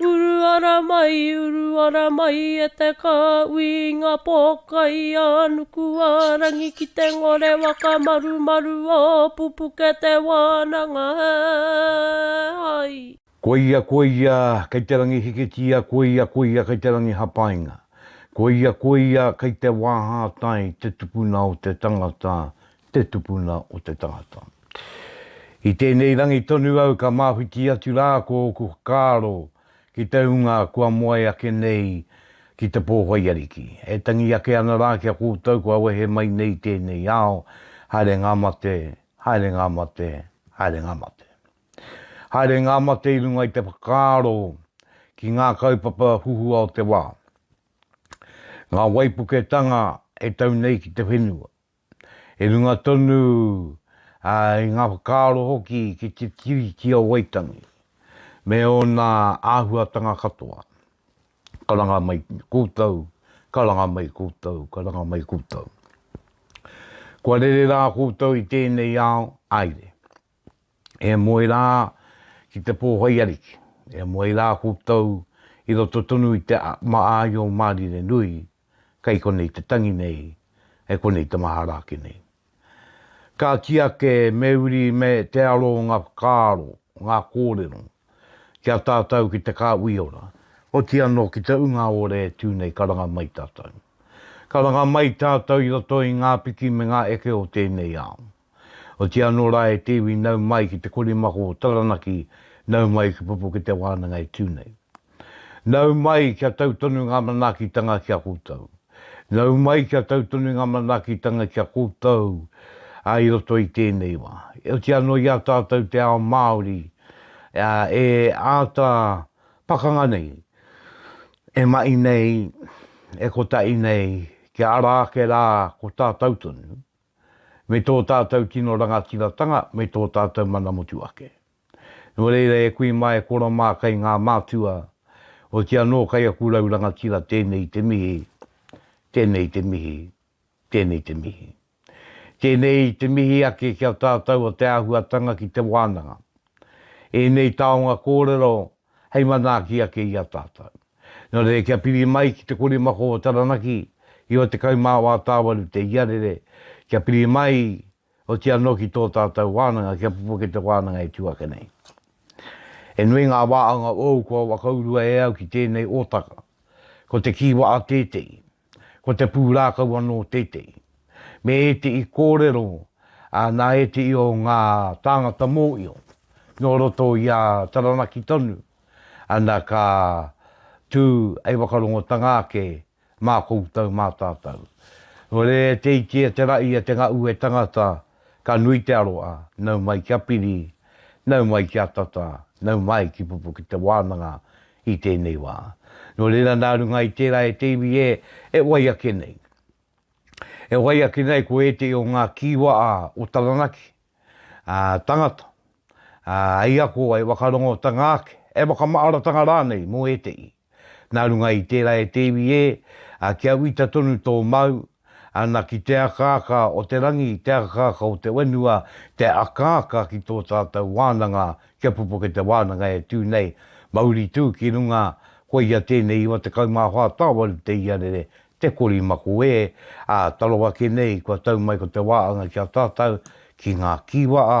Uru ara mai, uru ara mai e te kāui i ngā pōkai a Nukuārangi ki te ngore whakamarumaru o pupuke te wānanga he hai. Koia, koia, kei te rangi hikitia, koia, koia, kei te rangi hapainga. Koia, koia, kei te wāhātai te tupuna o te tangata, te tupuna o te tangata. I tēnei rangi tonu au ka māwhiti atu rā ko ōku whakaaro ki te hunga kua moe ake nei ki te pōwhai ariki. E tangi ake ana rā ki a koutou kua wehe mai nei i tēnei ao, haere ngā mate, haere ngā mate, haere ngā mate. Haere ngā mate i runga i te whakaaro ki ngā kaupapa huhua o te wā. Ngā waipuketanga e tau nei ki te whenua, i runga tonu i ngā whakaaro hoki ki te Tiriti o Waitangi me ōna āhuatanga katoa. Karanga mai koutou, karanga mai koutou, karanga mai koutou. Kua rere rā koutou i tēnei ao, aere. E moe rā ki te pōhoi ariki. E moe rā koutou i roto tonu i te āio mārire nui, kei konei te tangi nei, kei konei te mahara ake nei. Ka kī ake me uri me te aro ngā whakaaro, ngā kōrero ki a tātou ki te Kāuiora, oti anō ki te Ungaore e tū nei ka ranga mai tātou. Ka ranga mai tātou i roto i ngā piki me ngā eke o tēnei ao. Otiia anō rā e te iwi nau mai ki te korimako o Taranaki, nau mai ki pupu ki te wānanga e tū nei. Nau mai kia tau tonu ngā manaakitanga ki a koutou. Nau mai kia tau tonu ngā manaakitanga ki a koutou i roto i tēnei wā. Otiia anō i a tātou te ao Māori e āta pakanga nei, e mahi nei, e kotahi nei, kia ara ake rā ko tātou tonu. me tō tātou tino rangatiratanga me tō tātou mana motuhake. Nō reira e kui mā e koro mā kei ngā mātua, oti anō kei aku rau rangatira tēnei te mihi, tēnei te mihi, tēnei te mihi. Tēnei te mihi ake ki a tātou o te āhuatanga ki te wānanga. Ēnei taonga kōrero hei manaaki ake i a tātou. Nō reira kia piri mai ki te kori mako o Taranaki, iwa tekau mā wā tāwaru te iarere, kia piri mai oti anō ki tō tātou wānanga, kia pupu ake te wānanga e tū ake nei. He nui ngā wā anga ōu kua whakaurua e au ki tēnei ōtaka. Ko te kīwa'a tētehi. Ko te pūrākau anō tētehi. Me ētehi kōrero nā ētehi o ngā tāngata mōhio nō roto i a Taranaki tonu, ana ka tū hei whakarongotanga ake mā koutou, mā tātou. Nō reira e te iti, e te raʻi, e te ngaʻu, e tangata, ka nui te aroha, nau mai kia piri, nau mai kia tata, nau mai ki Pupuke Te Wānanga, i tēnei wā. Nō reira nā runga i tērā e te iwi ē, e wai ake nei. E wai ake nei ko ētehi o ngā kīwa ā, o Taranaki, ā, tangata, ā, hei ako, hei whakarongotanga ake, hei whakamaaratanga rānei mō ētehi. Nā runga i tērā e te iwi ē, ā, kia uita tonu tō māu, Ana ki te akaaka o te rangi, te akaaka o te whenua, te akaaka ki tō tātou wānanga, kia pupuke te wānanga e tū nei, mauri tū ki runga, koia tēnei iwa tekau mā whā tāwari te iarere, te kori mako ē, ā, taro ake nei kua tau mai ko te wā anga ki a tātou, ki ngā kīwaa,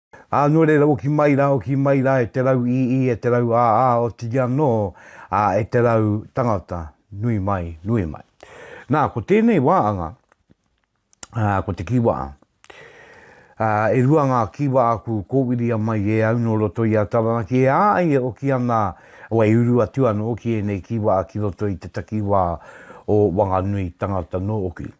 Ā, nō reira oki mai rā, oki mai rā e te rau ī-ī, e te rau ā-ā, otirī anō, ā, e te rau tangata, nui mai, nui mai. Nā, ko tēnei wā anga, ā, ko te kīwaā. Ā, e rua ngā kīwaā aku kōwiria mai e au nō roto i a Taranaki, e ā ai e oki ana, o e uru atu anō ki ēnei kīwaā ki roto i te takiwā o Wanganui tangata nō oki.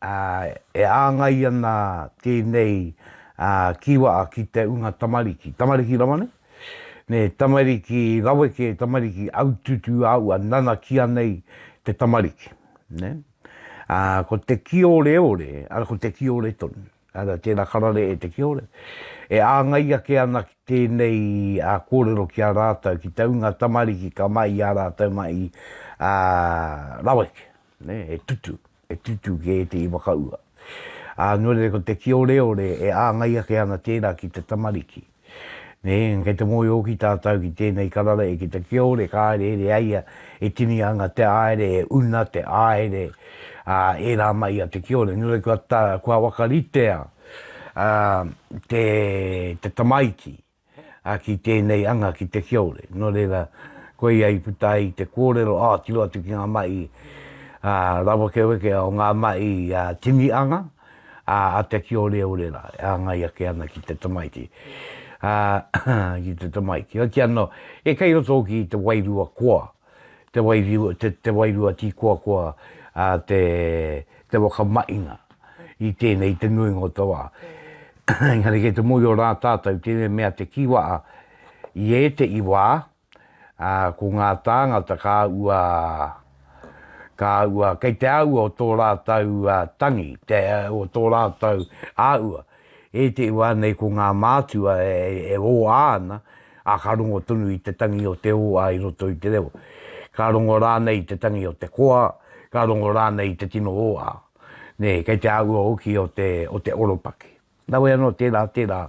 E āngai ana tēnei kīwa'a ki te ūnga tamariki. Tamariki rawa nei? Nē, tamariki raweke, tamariki aututu āua nanakia nei te tamariki. Nē? Ko te kīoreore, arā, ko te kīore tonu. Arā, tērā karare e te kīore. E āngai ake ana ki tēnei kōrero ki a rātou, ki te ūnga tamariki ka mai i a rātou mai raweke. Nē? E tutu. E tutū kē te iwakaua. Ā, nō reira ko te kīoreore e āngai ake ana tērā ki te tamariki. Nē, kei te moe hoki tātou ki tēnei karara e ki te kiore ka haere here ai ia e tini ana te aere e una te aere, ā, e rā mai ia te kiore. Nō reira kua whakaritea te tamaiti. ā, ki tēnei anga ki te kiore. Nō reira, koia i puta ai te kōrero, ā, tiro atu ki ngā mahi rawekeweke o ngā mahi tini anga a te kioreore rā, e āngai ake ana ki te tamaiti. Ki te tamaiti. Hoki anō, e kei roto hoki i te wairua koa. te wairua, te, te wairua tīkoakoa, ā, te, te whakamahinga i tēnei, i te nuinga o te wā. Engari kei te mōhio rā tātou tēnei mea te kī waha, i ētehi wā, ā, ko ngā tāngata ka ua, ka ua, kei te āhua o tō rātou tangi, te, o tō rātou āhua. I te wā nei ko ngā mātua e ōā ana, ā, ka rongo tonu i te tangi o te ōā i roto i te reo. Ka rongo rānei i te tangi o te koa, ka rongo rānei i te tino ōā, nē, kei te āhua hoki o te, o te oropaki. Nāwai anō, tērā, tērā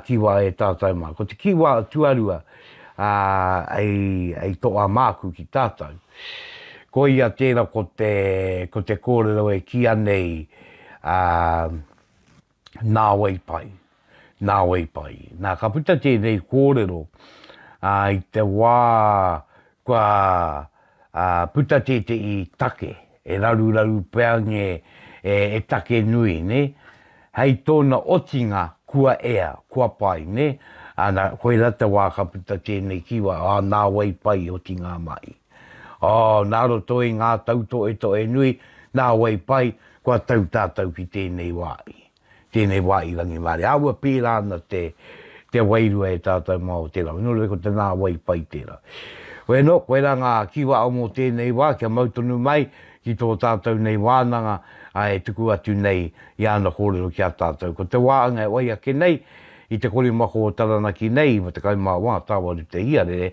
kīwā e tātou mā. Ko te kīwā tuarua i toa māku ki tātou, koia tērā ko te, ko te kōrero e kīa nei, ā, nāwai pai, nāwai pai. Nā, ka puta tēnei kōrero, ā, i te wā kua puta tētehi take, e raruraru pea nge e take nui, nē? Hei tōna otinga, kua ea, kua pai, nē? Ana, koirā te wā ka puta tēnei kīwai, ā, nāwai pai, otinga mahi. Ō, nā roto i ngā tautoetoe nui, nā wai pai, kua tau tātou ki tēnei wā i, tēnei wā i Rangimārie. Āua pērā ana te, te wairua e tātou mā o tērā wā. Nō reira ko te nā wai pai tērā. Wēnō, koirā ngā kiwa o mō tēnei wā, kia mau tonu mai ki tō tātou nei wānanga, ā, e tuku atu nei i āna kōrero ki a tātou. Ko te wā anga e wai ake nei, i te korimako o Taranaki nei, i 14 tāwaru te iarere,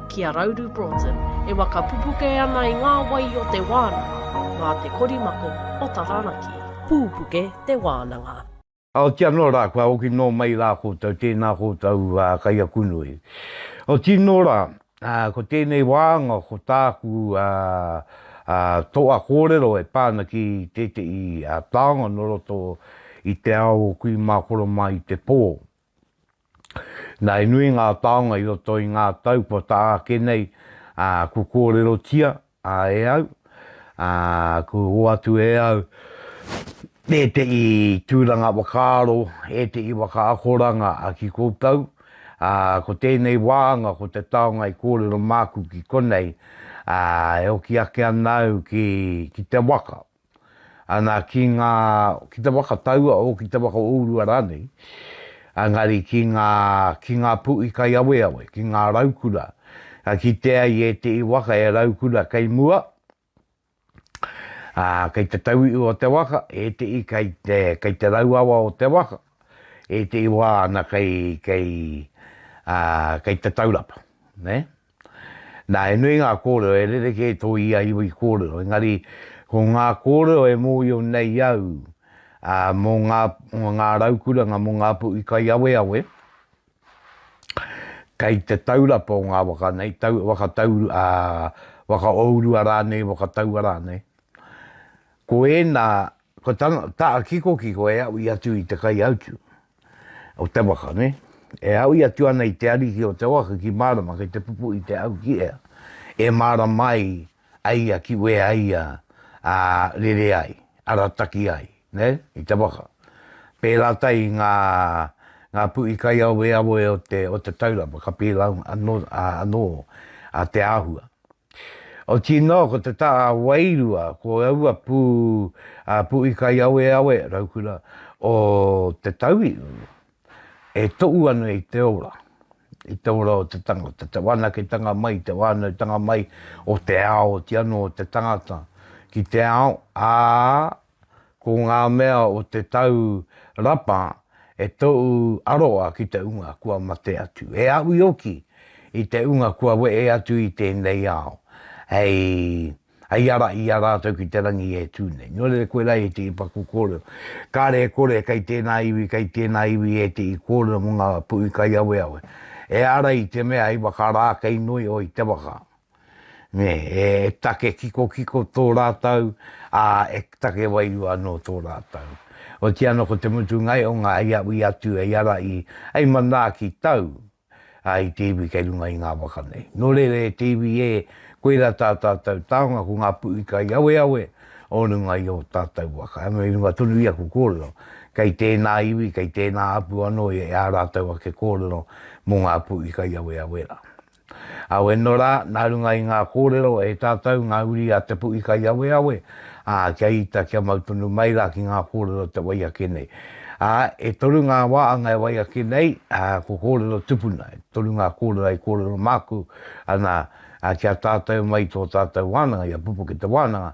ki a Rauru Broughton, e wakapupuke ana i ngā wai o te wānanga, mā te korimako o Taranaki. Pūpuke te wānanga. Ooti anō rā, kua hoki nō mai rā koutou, tēnā koutou kaiakunui. Ooti nō rā, ko tēnei wāanga ko tāku toa kōrero e pā ana ki tētehi taonga nō roto i te ao o kui mā koro mai te pō, Na he nui ngā taonga i roto i ngā tau kua taha ake nei ku kōrerotia e au, ku hoatu e au ētehi tūranga whakaaro, ētehi whakaakoranga ki koutou. Ko tēnei wāhanga, ko te taonga i kōrero māku ki konei e hoki ake ana au ki te waka. ana ki ngā, ki te waka taua o, ki te waka o Urua rānei, engari ki ngā, ki ngā puʻi kaiaweawe, ki ngā raukura, ka kitea i ēteʻi waka e raukura kei mua, ā, kei te tauiʻu o te waka, ēteʻi kei te, kei te rauawa o te waka, ēteʻi wā ana kei, kei, ā, kei te taurapa, nē. Nā, he nui ngā kōrero e rerekē tō ia iwi kōrero, engari ko ngā kōrero e mōhio nei au mō ngā raukuranga, mō ngā puʻi kaiaweawe, kei te taurapa o ngā waka nei, waka ōurua rānei, waka taua rānei, ko ēnā Ko tana taa kikokiko e aui atu i te kaiautu o te waka, ne? E aui atu ana i te ariki o te waka ki marama kei te pupu i te au ki ea, e marama ai a ia ki wea ia a rere ai, arataki ai, ne? I te waka. Pera tai i nga nga pui kaiaweawe o te o te taurapa ka pilaunga ano ano a te ahua. Otii noa ko te taa a Wairua ko aua pu a Puikaiaweawe Raukura o Te Tauihu e tou ana i te ora, i te ora o te tangata, te wanaketanga mai, te whanautanga mai o te ao, otii ano o te tangata ki te ao, aa, Ko ngā mea o te tau rapa e tou aroa ki te unga kua mate atu. E aui hoki i te unga kua wehe atu i tēnei ao, hei, hei ara i a rātou ki te rangi e tū nei. Nō reira koe rā ētehi paku kōrero. Kāre e kore kei tēnā iwi, kei tēnā iwi ētehi kōrero mō ngā puhi kaiaweawe. E ara i te mea hei waka rā kei noi oi te waka. nē, e take kikokiko tō rātou, ā, e take wairua anō tō rātou. Otiia anō ko te mutunga ai o ngā hei a ui atu hei ara i, hei manaaki tau, ā, i te iwi kei runga i ngā waka nei. Nō reira e te iwi ē, koirā tā tātou taonga ko ngā puʻu i kaiaweawe o runga i ō tātou waka. Anō i runga tonu i aku kōrero, kei tēnā iwi, kei tēnā hapū anō ē ā rātou ake kōrero mō ngā puʻu i kaiaweawe rā. Aweno rā, nā runga i ngā kōrero e tātou, ngā uri a Te Puʻikaiaweawe, ā, kia ita, kia mau tonu mai rā ki ngā kōrero o te wai ake nei. Ā, e toru ngā wāanga e wai ake nei, ā, ko kōrero tupuna, e toru ngā kōrero i kōrero māku ana kia tātou mai i tō tātou wānanga, i a Pupuke te Wānanga,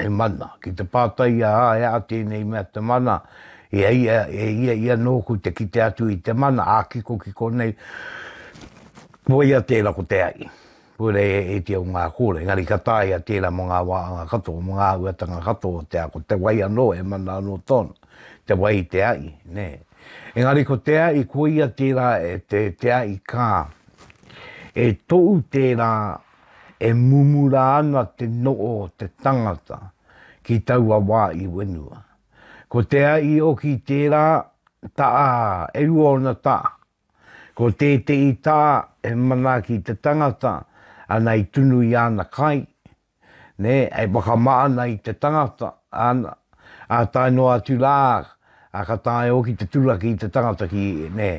Te mana. Ki te pātai i a Aea tēnei mea te mana, i a ia, e ia ia nōku te kite atu i te mana, ā-kikokiko nei, koia tērā ko te aʻi. Koira e ēti au ngā kōrero, engari ka tāia tērā mō ngā wāhanga katoa, mō ngā āhuatanga katoa o te ao, ko te wai anō he mana anō tōna, te wai i te aʻi, nē. Engari ko te aʻi, koia tērā, te aʻi kā, e toʻu tērā e mumura ana te no'o o te tangata ki taua wā i wenua. Ko te a i oki tērā ta'a e rua ona ta'a. Ko tēte'i ta'a e manaaki te tangata ana i tunu i ana kai, nē, e wakama ana i te tangata, ana, a tae noa atu rā, a ka tae oki te turaki i te tangata ki, nē,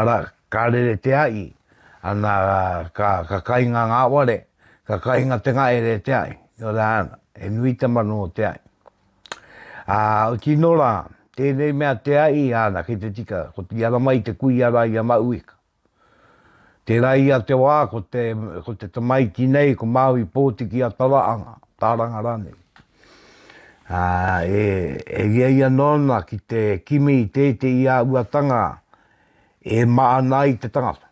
ara, Ka rere te aʻi, ana ka ka kainga nga ware, ka kainga te ngaere e te aʻi. Nō reira ana, he nui te manu o te aʻi. A, oti no ra, tenei mea te aʻi, ana, kei te tika, ko te ara mai te kui ara i a Mauika. Tera ia te wa, ko te, ko te tamaiti nei, ko Maui Potiki a Taraanga, Taranga ranei. A, e, e ria ia nona ki te kimi i te te i a uatanga, E ma ana ai te tangata.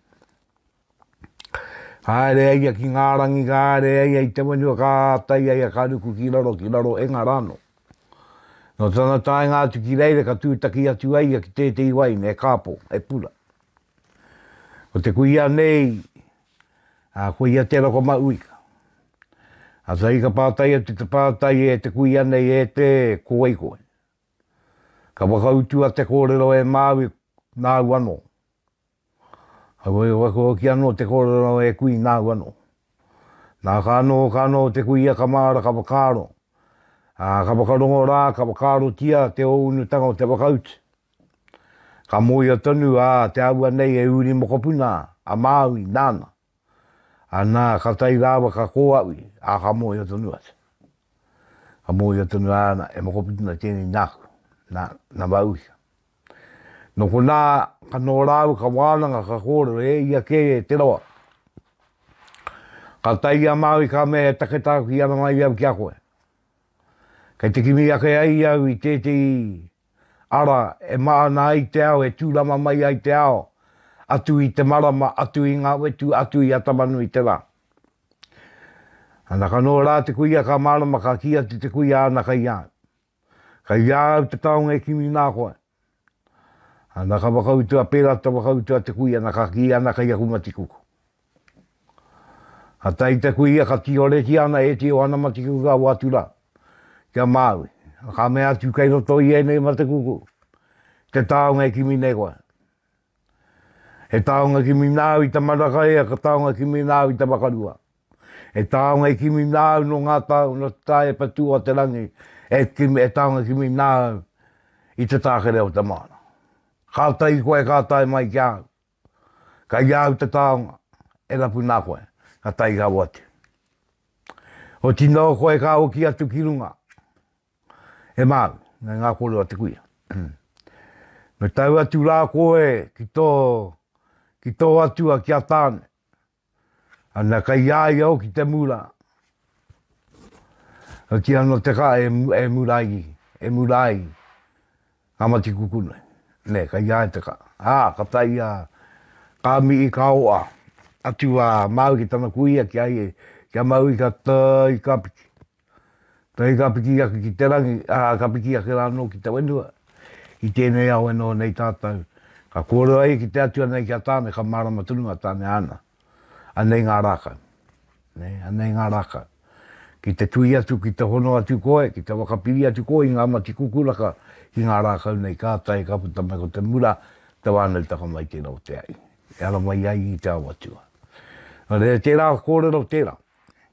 Ka haere ai ia ki nga rangi, ka haere ai ia i te whenua, ka atai ai ia ka ruku ki raro, ki raro e nga rano. No tana taenga atu ki reira ka tutaki atu ai ia ki tetei wai ne kapo, he pura. Ko te kuia nei, a ko ia te roko ma uika. A sa i ka patai atu te patai e te kuia nei e te koe koe. Ka whakautua te kōrero e Māui nāu anō. Heoi, waka hoki anō te kōrero e kui nāu anō. Nā, ka anō, ka anō te kuia ka māra ka whakaaro. Ā, ka whakarongo rā, ka whakaarotia te ōunutanga o te whakautu. Ka mōhio tonu, ā, te āhua nei e uri mokopuna a Māui nāna. Anā, ka tae rāua ka kōaui, ā, ka mōhio tonu atu. Ka mōhio tonu āna, e mokopuna nei tēnei nāku, nā, nā Wāuhia. Nō konā, ka noho rāua, ka wānanga, ka kōrero, e ia kē e te roa. Ka tae i a Māui, ka mea, he take tāku ki ana mai i au ki a koe. Kei te kimi ake ai i au i tētehi ara, e mahana ai te ao, e tūrama mai ai te ao, atu i te marama, atu i ngā wetu, atu i a Tamanui te Rā. Anaka nō rā te kuia ka mārama, ka kī atu te kuia, ana kei a au. Kei a au te taonga e kimi nā koe. Ana ka whakautua, pērā te whakautua te kuia, ana ka kī, ana kei aku matikuku. Ka tae ki te kuia ka tiroretia ana e Te Oanamatikiuka o Atura ki a Māui, ka mea atu kei roto i ēnei mate kuku te taonga e kimi nei koe. He taonga kimi nāu i te maraka he taonga kimi nāu i te wakarua. He taonga i kimi nāu no ngā tau no te tae patua o te rangi e, kimi, e taonga kimi nāu i te tākere o te māna. Ka tae koe ka tae mai ki a au. Kai a au te taonga, e rapu nā koe, ka tae rau atu. Oti nō koe ka hoki atu ki runga. E māu, me ngā koro a te kuia. Me tau atu rā koe ki tō, ki tō atua ki a tāne. Ana kai a ia hoki te mura. Ka kī ana te kaha, e, e mura ai, e mura ai ngā mati kukunui. Nē, kai a ia te kaha. Ā, ka tae ia, ka mihi, ka oa atu a Māui ki tana kuia ki a ia, ki a Māui ka tae i Kapiti. Hei ka piki ake ki te rangi, ā, ka piki ake rānō ki te whenua. I tēnei ao e noho nei tātou, ka kōrero ai ki te Atua nei ki a Tāne, ka mārama tonu a Tāne āna. Anei ngā rākau. Anei ngā rākau. Ki te tuhi atu, ki te hono atu koe, ki te whakapiri atu koe i ngā mati kukuraka ki ngā rākau nei, kātahi ka puta mai ko te mura, te whānautanga mai tērā o te ahi. E ara mai ai i te ao Atua. Nō reira, tērā kōrero tērā.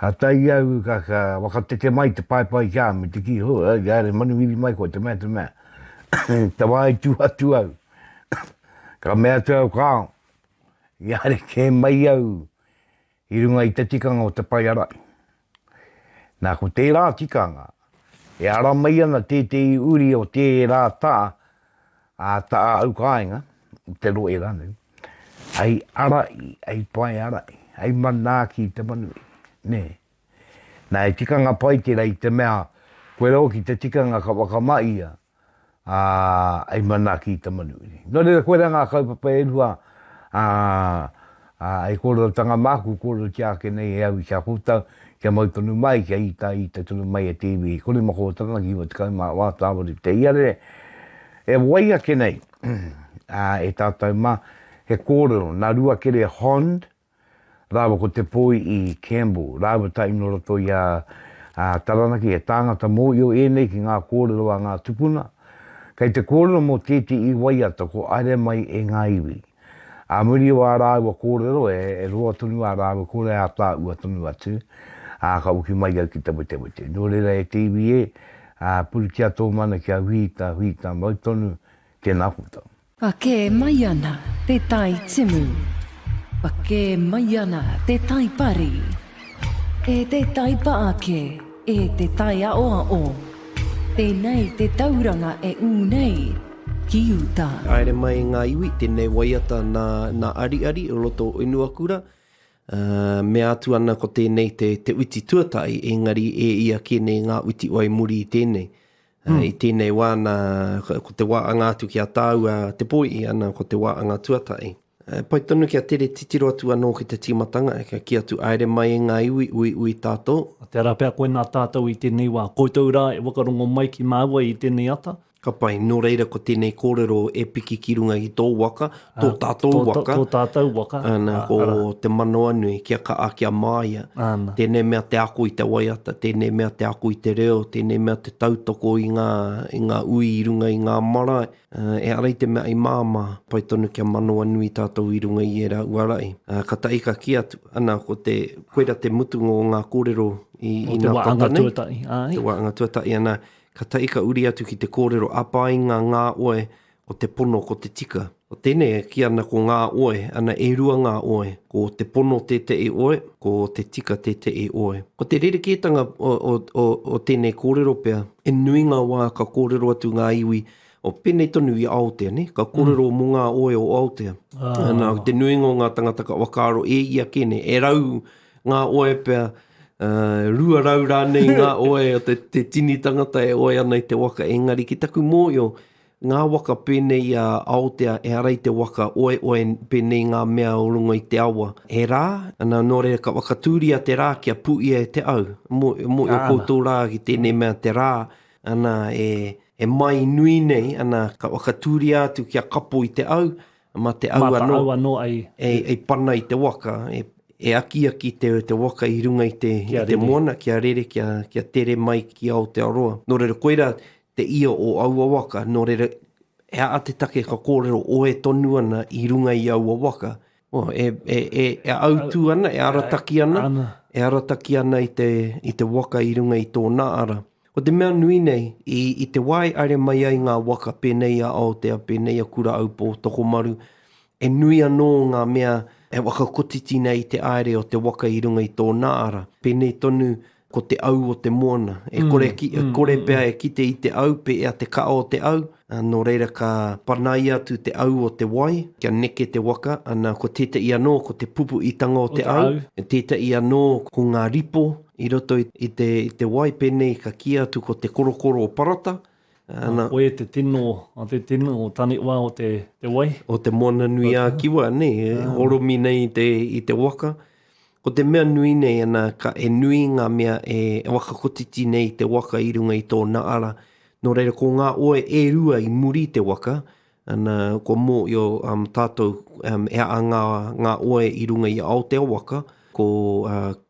Ka tae au ka ka whakateke mai te paepae ki a me te ki ho ai ka re manuhiri mai koa te mea te mea te wa i tu atu au ka mea atu au ka i a re ke mai au i runga i te tikanga o te pae arai na ko te ra tikanga e ara mai ana te te i uri o te ra ta Ā tā au kāinga, i te rohe rānei, hei ara i, hei pae ara i, hei manaaki i te manu i, nē. Nā, he tikanga pai tērā i te mea koe rau ki te tikanga ka whakamahia, ā, hei manaaki i te manu i. Nō reira, koirā ngā kaupapa e rua, ā, Ā, e kōrerotatanga māku, kōrerotia ake nei e au i kā koutou, kia mau tonu mai, kia ita, ita tonu mai e te iwi, i kore ma kōtanga ki iwa tekau mā wā tāwari ki te iarere, e wai ake nei, ā, e tātou mā, he kōrero, nā Ruakere Hond, rāua ko Te Poi i Campbell, rāua tā ino roto i a, a Taranaki, he tāngata mōio ēnei ki ngā kōrero a ngā tupuna, kei te kōrero mō tētē i waiata ko aere mai e ngā iwi. Ā muri o ā rāua kōrero e roa tonu ā rāua kore ā tāua tonu atu, ā, ka hoki mai au ki te wetewete. Nō reira e te iwi e, ā, puritia tō mana kia whiita, whiita mau tonu tēnā koutou. Ka kē mai ana te tai timu. Ka kē mai ana te tai pari. E te taipa ake. E te taiaoaō, tēnei te tauranga e ū nei ki uta. Haere mai ngā iwi, tēnei waiata nā, nā Ariari o roto o Unuakura. Mea atu ana ko tēnei te, te uti tuatahi, engari e ia kē nei ngā uti wai muri i tēnei. Mm. Uh, I tēnei wā, nā, ko te wā anga atu ki a tāua te poi, i ana ko te wā anga tuatai. Uh, pai tonu ki a tere titiro atu anō ki te tīmatanga, e ka ki atu aere mai e ngā iwi, ui, ui tātō. A te ara pea koe nā tātou i tēnei wā, koutou rā e wakarongo mai ki māua i tēnei ata. Ka pai, nō reira ko tēnei kōrero e piki ki runga i tō waka, tō tātou waka. Tō tātou waka. Ana, ko te manawanui, kia kaa, kia māia. Ana. Tēnei mea te ako i te waiata, tēnei mea te ako i te reo, tēnei mea te tautoko i ngā, i ngā ui i runga i ngā marae. E ara i te mea i māmā, pai tonu kia manawanui tātou i runga i ērā uarai. Ka tahi ka kī atu, ana, ko te, koira te mutunga o ngā kōrero i, i nā tata nei. Te waanga tuatahi. Te waanga tuatahi, ana, ka tahi ka uri atu ki te kōrero a painga ngā oe, ko te pono ko te tika. Ko tēnei e kī ana ko ngā oe, ana e rua ngā oe, ko te pono tēteʻi oe, ko te tika tēteʻi oe. Ko te rerekētanga o, o, o, o tēnei kōrero pea, i nui ngā wā ka kōrero atu ngā iwi o pēnei tonu i Aotea, nē, ka kōrero mō ngā oe o Aotea. Nā, ko te nuinga o ngā tangata ka whakaaro e ia kē, nē, e rau ngā oe pea, ā, rua rau rānei ngā oe o te, te tini tangata e oe ana i te waka, engari ki taku mōhio, Ngā waka pēnei i a Aotea ehara i te waka oeoe pēnei i ngā mea o runga i te awa. He rā, nā, nō reira ka whakatūria te rā kia pūia e te au. Moe, moe o koutou rā ki tēnei mea te rā, nā, e, e mai nui nei, nā, ka whakatūria atu kia kapo i te au, mā te au anō, i pana i te waka, e, e akiaki te, te waka i runga i te, i te moana kia rere, kia, kia tere mai ki Aotearoa. Nō reira, koirā te ia o aua waka, nō reira, he aha te take ka kōrero oe tonu ana i runga i aua waka, oh, e, e, e, e autū ana, e arataki ana, ana, e arataki ana i te, i te waka i runga i tōna ara. Ko te mea nui nei, i, i te wā e aere mai ai ngā waka pēnei i a Aotea, pēnei i a Kura Aupō, Tokomaru, He nui anō ngā mea e whakakotiti nei i te aere o te waka i runga i tōna ara, pēnei tonu ko te au o te moana. E kore, e kore pea e kite i te au pē a te kaʻa o te au, nō reira ka panaia atu te au o te wai kia neke te waka, ana ko tētaʻi anō ko te pupuʻitanga o te au, tētaʻi anō ko ngā ripo i roto i te wai, pēnei ka kīa atu ko te korokoro o Parata, Nā, koe te tino, a te tino o Taniwha o te, te wai. O te Moana nui a Kiwa, ne, e horomi nei i te, i te waka. Ko te mea nui nei ana, ka, e nui ngā mea e, e whakakotiti nei i te waka i runga i tōna ara. Nō reira, ko ngā oe e rua i muri i te waka, And kua mōio tātou he aha ngā oe i runga i Aotea waka, ko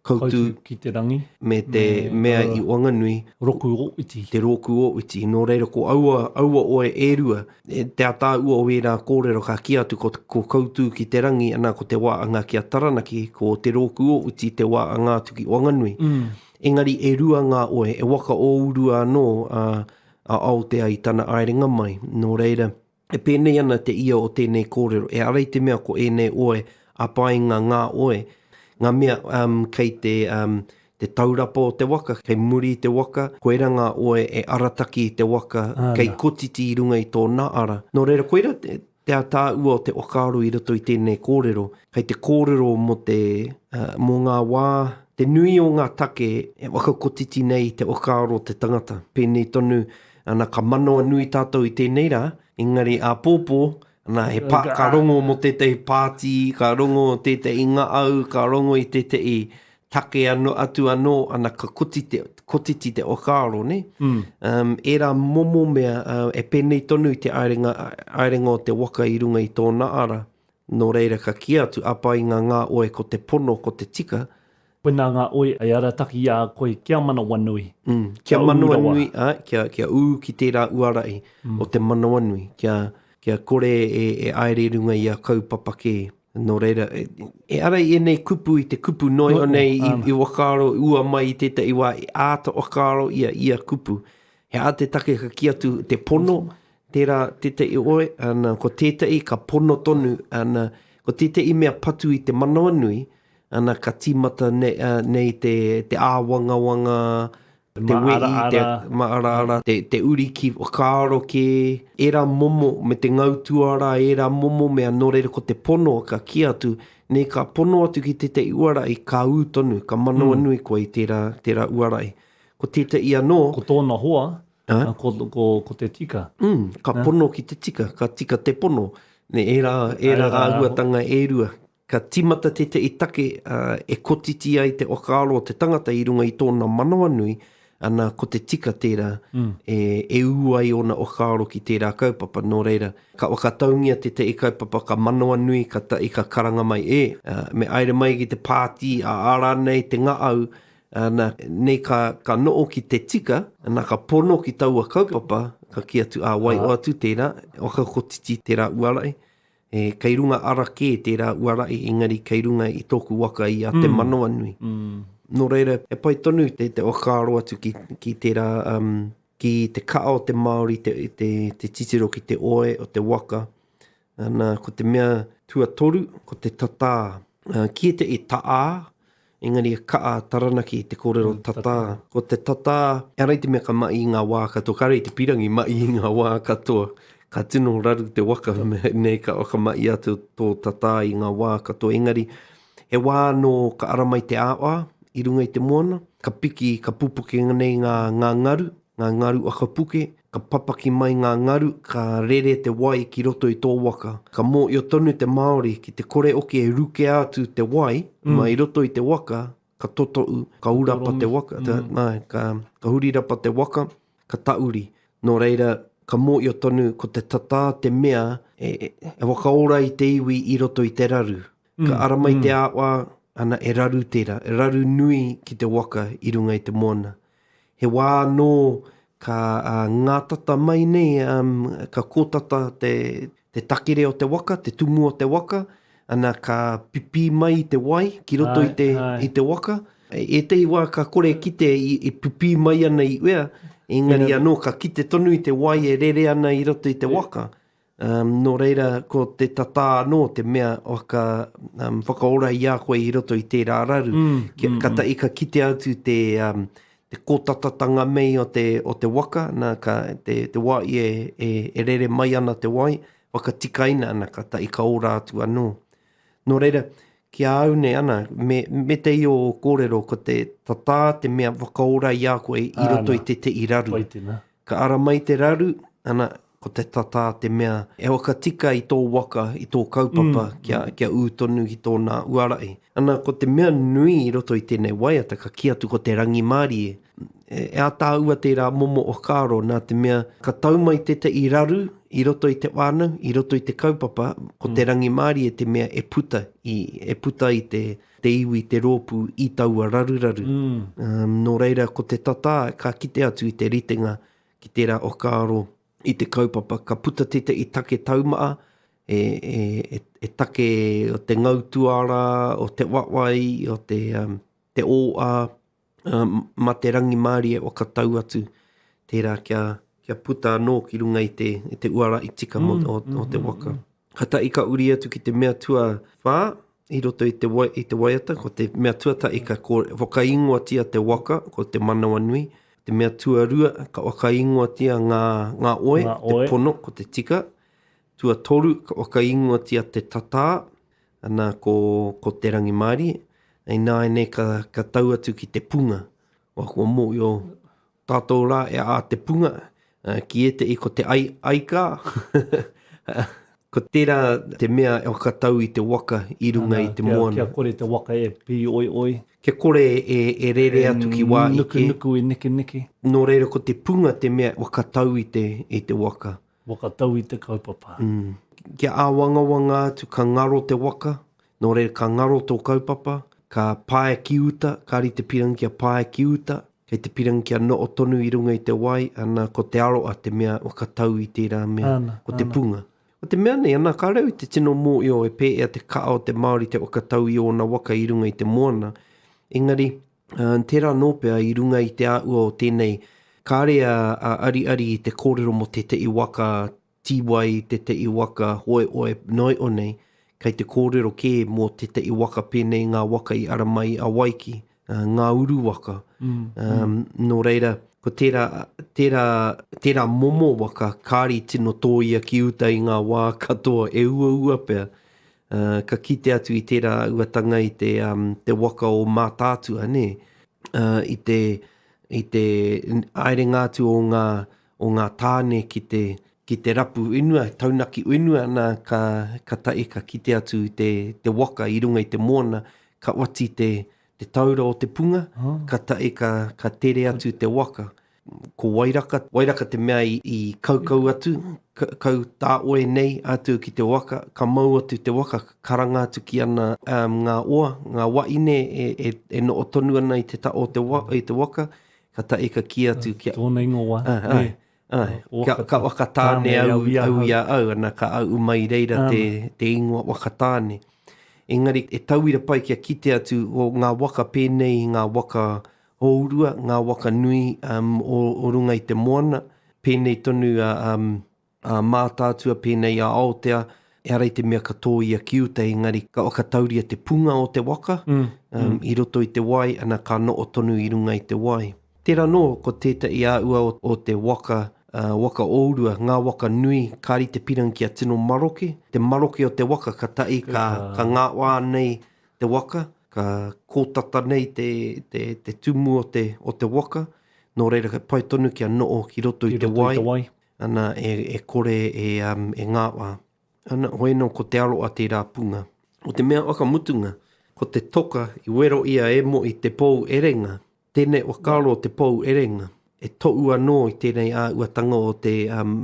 Koutu ki te rangi me te mea i Wanganui, Roku o Iti, te Roku o Iti. Nō reira ko aua oe e rua, te ataahua o ērā kōrero ka kī atu ko Koutu ki te rangi, ana ko te wā anga ki a Taranaki, ko te Roku o Iti te wā anga atu ki Wanganui. Engari e rua ngā oe, e waka ōurua anō a Aotea i tana aerenga mai, nō reira, e pēnei ana te ia o tēnei kōrero, e ara i te mea ko ēnei oe a Paenga ngā oe, ngā mea um kei te um te taurapa o te waka, kei muri i te waka, koira ngā oe e arataki i te waka, kei kotiti i runga i tō nā ara. Nō reira, koira te Te ataahua o te whakaaro i roto i tēnei kōrero, kei te kōrero mō te, mō ngā wā, te nui o ngā take e whakakotiti nei i te whakaaro o te tangata. Pēnei tonu, ana, ka manawa nui tātou i tēnei rā, engari āpōpō, ana, he pā, ka rongo mō tētahi pāti, ka rongo tētahi ngaau, ka rongo i tētahi take ano, atu anō ana ka koti te, kotiti te whakaaro, ne? Mm. Um, era momo mea uh, e pēnei tonu i te aerenga, aerenga o te waka i runga i tōna ara, nō reira ka ki atu, apa i ngā ngā oe ko te pono, ko te tika, Koinā ngā oe e arataki i a koe kia manawanui. Mm, kia, kia manawanui, a, kia, kia ū ki tērā uarai mm. o te manawanui, kia, kia kore e, e aere runga i a kaupapa kē. Nō reira, e ara i ēnei kupu i te kupu noio nei i whakaaro ua mai i tētahi wā e āta whakaaro i a ia kupu. He aha te take ka kī atu te pono, tērā tētahi oe, ana, ko tētahi ka pono tonu, ana, ko tētahi mea patu i te manawanui, ana, ka tīmata nei te āwangawanga te wehi, te māraara, te uri ki whakaaro kē, ērā momo, me te ngau tuara, ērā momo mea nō reira ko te pono ka kī atu, nē, ka pono atu ki tētahi uarai, ka ū tonu, ka manawanui koe i tērā, tērā uarai. Ko tētahi anō. Ko tōna hoa, ko, ko, ko te tika. Mm, ka pono ki te tika, ka tika te pono. Nē, ērā, ērā āhuatanga e rua. Ka tīmata tētahi take e kotiti ai te whakaaro o te tangata i runga i tōna manawanui, ana, ko te tika tērā e ū ai ōna whakaaro ki tērā kaupapa. Nō reira, ka whakataungia tētahi kaupapa ka manawanui, kātahi ka karanga mai, E! Me haere mai ki te pāti, ā rānei te ngaau, ana, nei ka noho ki te tika, ana, ka pono ki taua kaupapa, ka kī atu, Ā wai, o atu tērā, e whakakotiti tērā uara ai. He kei runga ara kē tērā uarahi engari kei runga i tōku waka i a Te Manawanui. Nō reira, he pai tonu te whakaaro atu ki tērā, ki te kaha o te Māori te titiro ki te oe o te waka. Nā, ko te mea tuatoru, ko te tatā. Kīia te e taā, Engari e kaha a Taranaki i te kōrero tatā. Ko te tatā, ehara i te mea ka mahi i ngā wā katoa, kāre i te pīrangi mahi i ngā wā katoa. Ka tino raru te waka, nei ka whakamahi atu tō tatā i ngā wā katoa. Engari, he wā anō ka ara mai te aawaa i runga i te moana, ka piki, ka pupuke nei ngā ngaru, Ngā ngaru whakapuke, ka papaki mai ngā ngaru, ka rere te wai ki roto i tō waka. Ka mōhio tonu te Māori ki te kore hoki e rukea atu te wai mai roto i te waka, ka totohu, ka hurapa te waka, ka hurirapa te waka, ka tauri. Nō reira, ka mōhio tonu ko te tatā te mea e whakaora i te iwi i roto i te raru. Ka ara mai te awa, ana e raru tērā, e raru nui ki te waka i runga i te moana. He wā anō ka ngātata mai nei, ka kōtata te takere o te waka, te tumu o te waka, ana ka pipī mai te wai ki roto i te waka. Ētehi wā ka kore e kite e pipī mai ana i uea, engari anō ka kite tonu i te wai e rere ana i roto i te waka. Um, nō reira, ko te tatā anō, te mea o ka um, whakaora i a koe i roto i tērā raru, mm, ki, mm, ka, ta, mm. ka kite atu te, um, te kōtatatanga mei o te, o te waka, na, ka, te, te wai e, e, e rere mai ana te wai, whakatikaina ana, ka ta i ka ora atu anō. Nō reira, ki a au nei ana, me, me te i o kōrero, ko te tatā te mea whakaora i a koe i roto i te te i raru. Wai tēnā. Ka ara mai te raru, ana, ko te tatā te mea e waka tika i tō waka, i tō kaupapa kia, kia ū tonu ki tōna uarahi. Ana, ko te mea nui i roto i tēnei waiata, ka kī atu ko te rangimārie, e, e ataahua tērā momo whakaaro nā te mea ka tau mai tētahi raru i roto i te whānau, i roto i te kaupapa, ko te rangimārie te mea e puta i, e puta i te, te iwi, te rōpū i taua raruraru. Nō reira, ko te tatā ka kite atu i te ritenga ki tērā whakaaro i te kaupapa. Ka puta tētahi take taumaha, he take o te ngau tuara, o te wawai, o te ōa, mā te rangimārie o ka tau atu, tērā kia, kia puta anō ki runga i te, i te uara i tika mm, o, mm, o te waka. Mm, ka tahi ka uri atu ki te mea tua whā, i roto i te, wai, i te waiata, ko te mea tuatahi ka ko, whakaingoatia te waka, ko te manawa nui, te mea tuarua ka whakaingoatia ngā, ngā oe, ngā oe, te pono, ko te tika, tuatoru ka whakaingoatia te tatā, Ana ko, ko te rangimārie, hei nāianei ka, ka tau atu ki te punga, wa kua mōio tātou rā e a te punga, uh, ki ētehi ko te ai, aikā, ko tērā te mea e whakatau i te waka i runga Ana, i te kia, moana. Kia kore te waka e pī oi oi. Kia kore e, e rere e atu ki wā ike. E nuku nuku, e neke neke. Nō reira ko te punga te mea e whakatau i te, i te waka. Whakatau i te kaupapa. Kia āwangawanga atu ka ngaro te waka, nō reira ka ngaro tō kaupapa, ka pae ki uta, ka rite pirangi kia pae ki uta, kei te pirangi kia noho tonu i runga i te wai, ana, ko te aroa te mea whakatau i tērā mea, ko te punga. Ko te mea nei, ana, ka reo i te tino mōhio e pēea te kaha o te Māori te whakatau i ōna waka i runga i te moana, engari, Ā, tērā nō pea i runga i te āhua o tēnei, kāre a Ariari i te kōrero mō tētehi waka tīwai, tētehi waka hoehoe noio nei, kei te kōrero kē mō tētehi waka pēnei i ngā waka i ara mai i Awaiki, ā, ngā uru waka. Ā, nō reira, ko tērā, tērā, tērā momo waka kāre i tino tōia ki uta i ngā wā katoa e uaua pea. Uh, ka kite atu i tērā uatanga i te, um, te waka o Mātaatua, nē, uh, i te, i te aerenga atu o ngā, o ngā tāne ki te, ki te rapu whenua, taunaki whenua, nā, ka, ka tae, ka kite atu i te, te waka i runga i te mōna, ka wati te, te taura o te punga, oh. ka tae, ka, ka tere atu te waka. Ko Wairaka, Wairaka te mea i kaukau atu, kau tāoe nei atu ki te waka, ka mau atu te waka, ka karanga atu ki ana ngā oa, ngā waʻine e, e, e noʻo tonu ana i te taʻo o te, i te waka, ka taʻi ka kī atu kia... Tōna ingoa, e. Ai, kia, ka Wakatāne au, au i a au, ana ka aʻu mai i reira te, te ingoa Wakatāne. Engari e tauira pai kia kite atu, o ngā waka pēnei i ngā waka Hourua, ngā waka nui o runga i te moana, pēnei tonu a Mātaatua, pēnei a Aotea, ehara i te mea ka tōia ki uta, engari ka whakatauria te punga o te waka i roto i te wai, ana, ka noho tonu i runga i te wai. Tērā anō, ko tētahi āhua o te waka, waka ourua, ngā waka nui, kāri te pirang kia tino maroke, te maroke o te waka, katahi ka ngāwhā nei te waka, ka kōtata nei te, te, te tumu o te, o te waka, nō reira ka pai tonu kia noho ki roto i te wai, te wai. Ana, e, e kore e, um, e ngāwā. Ana, hoi anō ko te aroa tērā punga. Ko te mea whakamutunga, ko te toka i wero ia e Mohi te pou erenga, Tēnei whakaaro o te Pou Erenga, e toʻu anō i tēnei āhuatanga o te, um,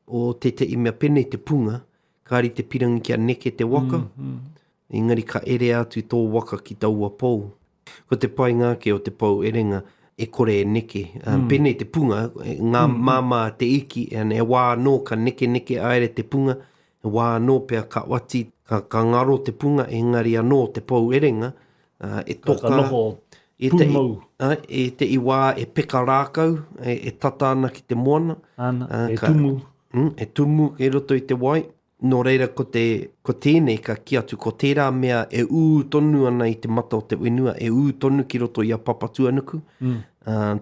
o tēteʻi mea penei te punga, kāri te pirangi kia neke te waka, engari ka ere atu tō waka ki taua pou. Ko te painga ake o te Pou Erenga, e kore e neke, um, penei te punga, ngā māmā te iki, and e wā anō ka nekeneke aere te punga, He wā anō pea ka oati, ka ngaro te punga engari anō te pou erenga e toka. Ka noho pūmau. I te i wā e peka rākau, e tata ana ki te moana. Ana, e tumu. E tumu kei roto i te wai. Nō reira ko te, ko tēnei ka kī atu ko tērā mea e ū tonu ana i te mata o te whenua, e ū tonu ki roto i a Papatuanuku,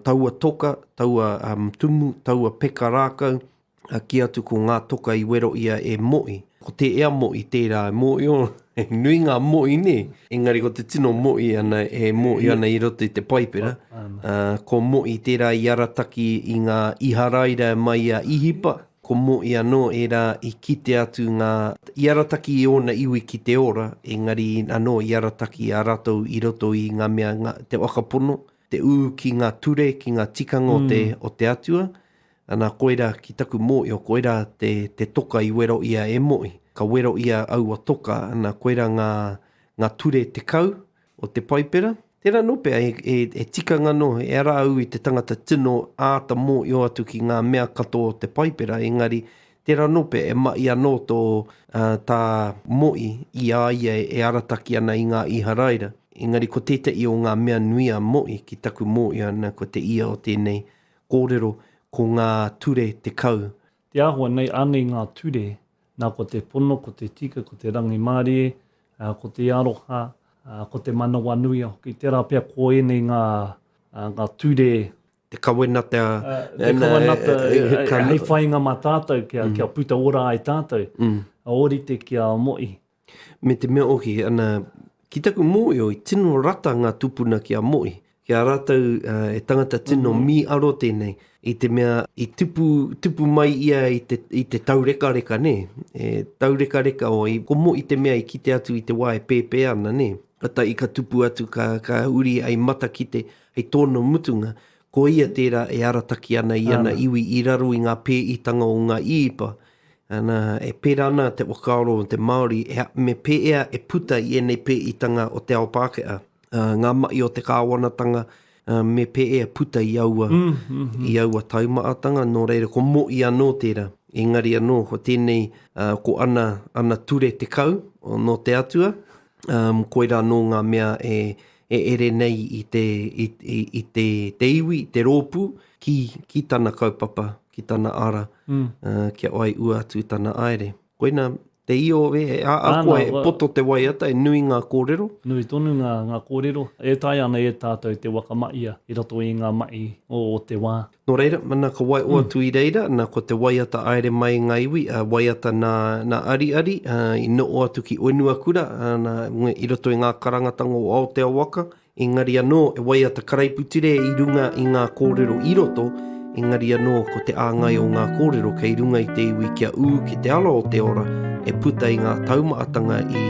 taua toka, taua tumu, taua peka rākau, a ki atu ko ngā toka i wero ia e Moʻi. Ko te ea Moʻi tērā e Moʻi o, he nui ngā Moʻi nē, engari ko te tino Moʻi ana e Moʻi ana i roto i te Paipera, ā, ko Moʻi tērā i arataki i ngā Iharaira e mai i a Īhipa, ko Moʻi anō ērā i kite atu ngā, i arataki i ōna iwi ki te ora, engari anō i arataki a ratou i roto i ngā mea, ngā, te whakapono, te ū ki ngā ture, ki ngā tikanga o te, o te Atua, Ana koira ki taku moio koira te te toka i wero ia e moi ka wero ia aua toka ana koira nga nga ture tekau o te paipera tera no pea e e e tikanga no e ara au i te tangata tino aata moio atu ki nga mea katoa o te paipera engari tera no pea e mahi ano to a ta moi i a ia e arataki ana i nga Iharaira engari ko tetahi o nga mea nui a moi ki taku moio ana ko te ia o tenei Kōrero, ko ngā ture tekau. Te āhua nei, ānei ngā ture, nā ko te pono, ko te tika, ko te rangimārie, ko te aroha, ko te manawanuia hoki, tērā pea ko ēnei ngā ngā ture, Te kawenata, te kawenata hei whainga mā tātou kia puta ora ai tātou, ōrite kia moe. Me te mea ohi, ana, ki taku mōio i tino rata ngā tupuna ki a Mohi, ki a rātou he tangata tino mīaro tēnei, i te mea i tupu, tupu mai ia i te, i te taurekareka, nē, he taurekareka o, ko Mohi te mea i kite atu i te wā e pēpē ana, nē, kātahi ka tupu atu, ka, ka huri hei matakite, hei tōna mutunga, ko ia tērā e arataki ana i ana iwi i raro i ngā pēitanga o ngā īipa, Ana, e pērā ana te whakaaro o te Māori, me pēea e puta i ēnei pēitanga o te ao Pākehā, ngā mahi o te kāwanatanga, me pēea puta i aua, i aua taumahatanga, nō reira, ko Mo'i anō tērā, engari anō, ko tēnei, ko ana, ana ture tekau, nō te Atua, koirā anō ngā mea e, e ere nei i te, i, i, i te, te iwi, te rōpū, ki, ki tana kaupapa. ki tana ara, kia wai ua atu tana aere. Koina te io e, a koe e poto te waiata, e nui nga korero? Nui tonu nga korero, e taea ana e tatou te waka maia i roto i nga mai o te wa. No reira, na ka waio atu i reira, na ko te waiata aere mai i nga iwi, waiata na Ariari, i noo atu ki Oenuakura, na i roto i nga karangatanga o Aoteawaka, Engari anō, e waiata karaiputire i runga i ngā kōrero i roto, engari anō, ko te āngai o ngā kōrero kei runga i te iwi kia ū ki te ara o te ora e puta i ngā taumaatanga i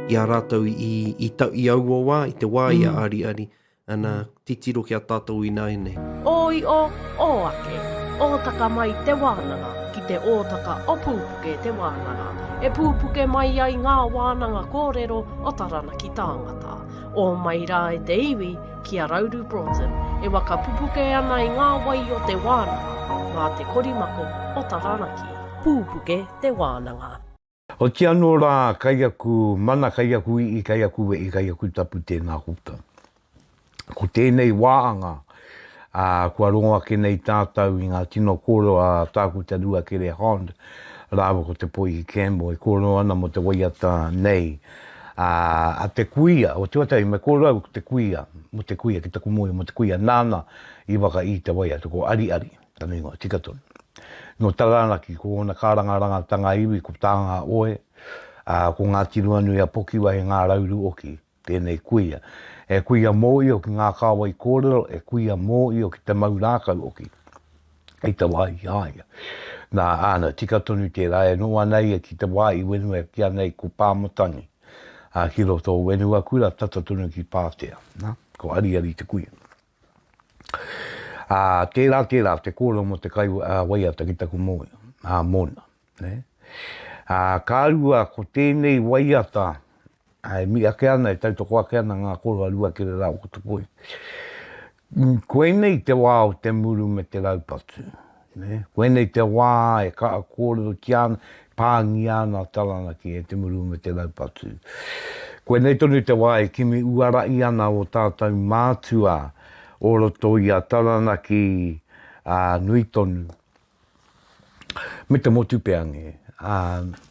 i a rātou i i ta i aua wā, i te wā i a Ariari, ana, titiro ki a tātou ināianei. Ōio, ō ake, ōtaka mai te wānanga, ki te ōtaka o pūpuke te wānanga, e pūpuke mai ai ngā wānanga kōrero o Taranaki tāngata. o mai rā i te iwi ki a Rauru Broughton e wakapupuke ana i ngā wai o te wānanga mā te korimako o Taranaki. Pūpuke te wānanga. Oti anō rā, kai aku mana, kai aku i'i, kai aku we'i, kai aku tapu tēnā koutou. Ko tēnei wāanga. ā, kua rongo ake nei tātou i ngā tino kōrero a Tākuta Ruakere Hond rāua ko Te Poihi Campbell e kōrero ana mō te waiata nei ā, a te kuia o Tuatahi me kōrero au ko te kuia, mō te kuia ki taku mōhio mō te kuia nāna i waka i te waiata ko Ariari tana ingoa tika tonu nō Taranaki ko ōna kārangarangatanga iwi ko Tāngaoe ā, ko Ngāti Ruanui a Pokiwa he ngārauru oki. Tēnei kuia. He kuia mōio ki ngā kāwai kōrero, he kuia mōio ki te mau rākau hoki. Hei te wā i a ia. Nā, āna, tika tonu tērā, e noa ana ia ki te wā i wenua e kīa nei ko Pāmatangi, ā, ki roto o Wenuakura, tata tonu ki Pātea. Nā, ko Ariari te kuia. Ā, tērā, tērā te kōrero mō te kai waiata ki taku mōna. Ā, ka rua ko tēnei waiata e mī ake ana, e tautoko ake ana ngā koroa rua kere rā o Kotopoi. Koinei te wā o te muru me te raupatu. Koinei te wā e kaha kōrerotia ana, e pāngia ana Taranaki e te muru o me te raupatu. Koinei tonu te wā e kimi uarahi ana ō tātou mātua o roto i a Taranaki ā, nui tonu, me te motu pea nē, ā,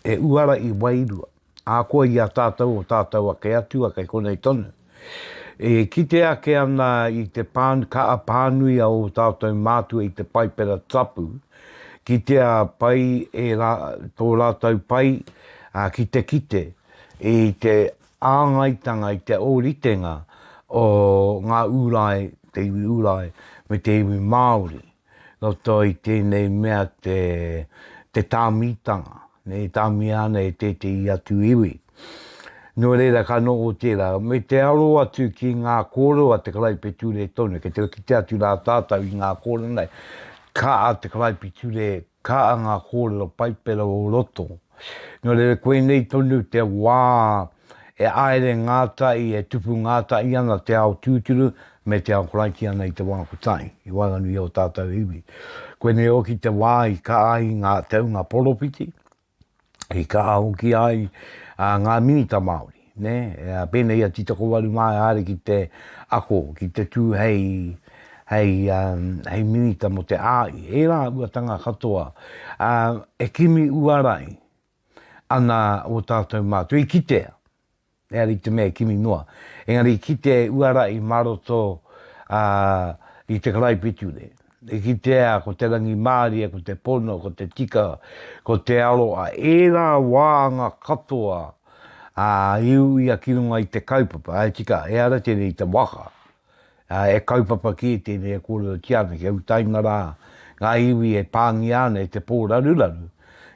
e uarahi wairua. Ahakoa i a tātou o tātou ake Atua kei konei tonu, e kite ake ana i te kaha pānui a ō tātou mātua i te Paipera Tapu, kitea pai e tō rātou pai ki te kite i te āngaitanga, i te ōritenga o ngā Ūrai, te iwi Ūrai me te iwi Māori. Roto i tēnei mea te tāmitanga, e tāmia ana e tētehi atu iwi. Nō reira ka noho tērā, me te aro atu ki ngā kōrero a te Karaipiture tonu, kei te kitea atu rā tātou i ngā kōrero nei, ka a te Karaipiture Kaa ngā kōrero Paipera o roto. Nō reira koinei tonu te wā e āere ngātahi, e tupu ngātahi ana te ao tūturu me te ao Karaitiana i te wā kotahi, i waenganui i ō tātou iwi. Koinei hoki te wā i kaahi ngā te hunga poropiti, i kaha hoki ai a ngā minita Māori, nē, pēnei a Titakowaru mā e haere ki te ako, ki te tū hei, hei, hei minita mō te āi, ērā uatanga katoa e kimi uarai ana o tātou mātou i kitea. Engari i te mea e kimi noa. Engari i kitea e Uara i ma roto a i te karaipiture. I kitea ko te rangimārie, ko te pono, ko te tika, ko te aro a ērā wāanga katoa a iu ia ki runga i te kaupapa. Tika, ehara tēnei i te waka. e kaupapa ki tēnei e kōrerotia ana kia utaina rā ngā iwi e pāngia ana e te pōraruraru,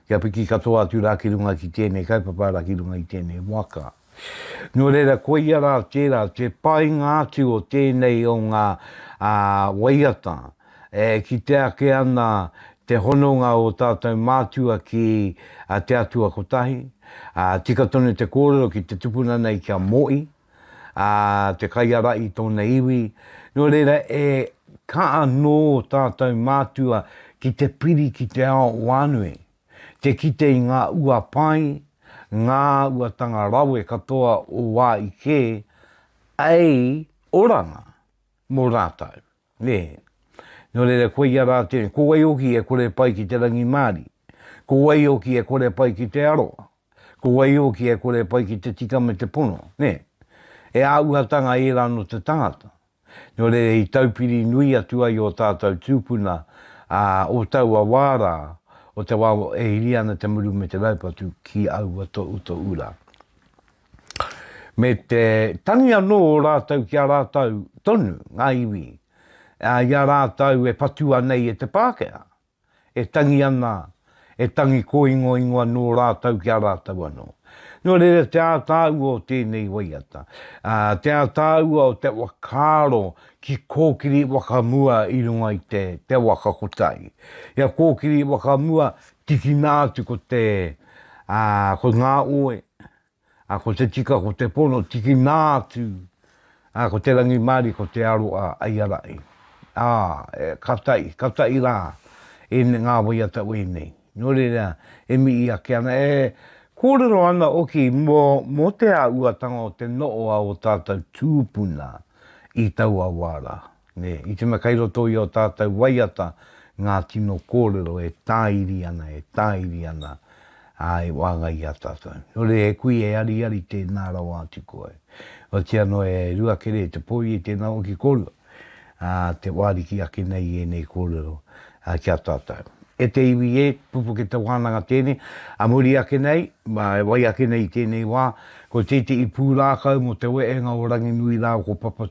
kia piki katoa atu rā ki runga ki tēnei kaupapa arā ki runga i tēnei waka. Nō reira, koia rā tērā te painga atu o tēnei o ngā waiata e kite ake ana te hononga o tātou mātua ki te Atua Kotahi, tika tonu te kōrero ki te tupuna nei kia moe, ā, te kaiara i tōna iwi, nō reira e kā anō tātou mātua ki te piri ki te ao whānui, te kite i ngā ua pai, ngā uatanga rawe katoa o wā i kē, ēi oranga mō rātou. Nē. Nō reira, koia rā te, ko wai hoki e kore pai ki te rangimārie? Ko wai hoki e kore pai ki te aroha? Ko wai hoki e kore pai ki te tika me te pono, nē? He āhuatanga ērā nō te tangata. Nō reira, i taupiri nui atu ai ō tātou tūpuna, ā, o taua wā rā, o te wā e hiri ana te muru me te raupatu ki aua tohutohu rā. me te tangi anō o rātou ki a rātou tonu, ngā iwi, ā, i a rātou e patua nei e te Pākehā, e tangi ana, e tangi kōingoingo anō rātou ki a rātou anō. Nō reira, te ātaahua o tēnei waiata, ā, te ātaahua o te whakaaro ki kōkiri whakamua i runga i te, te waka kotahi. Ia kōkiri whakamua, tikina atu ko te, ā, ko ngā oe, a ko te tika ko te pono tiki nā atu, a ko te rangimārie ko te aro a Aiarai. A, e, ka taʻi, ka taʻi rā e ngā waiata wēnei. Nō reira, e mihi ake ana, e kōrero ana hoki mō, mō te āhuatanga o te noʻoa o tātou tūpuna i taua wā rā. Nē, i tino kei roto i ō tātou waiata ngā tino kōrero e tāiri ana, e tāiri ana, ā, e waenga i a tātou. Nō reira, he kui e ariari tēnā rawa atu koe. Otiia noa e rua kere te pō i tēnā hoki kōrua, ā, te wāriki ake nei i ēnei kōrero, ā, ki a tātou. E te iwi e, pupuke te wānanga tēnei, ā muri ake nei, ā, e wai ake nei i tēnei wā, ko tētehi pūrākau mō te wehenga o Ranginui rāua ko Papa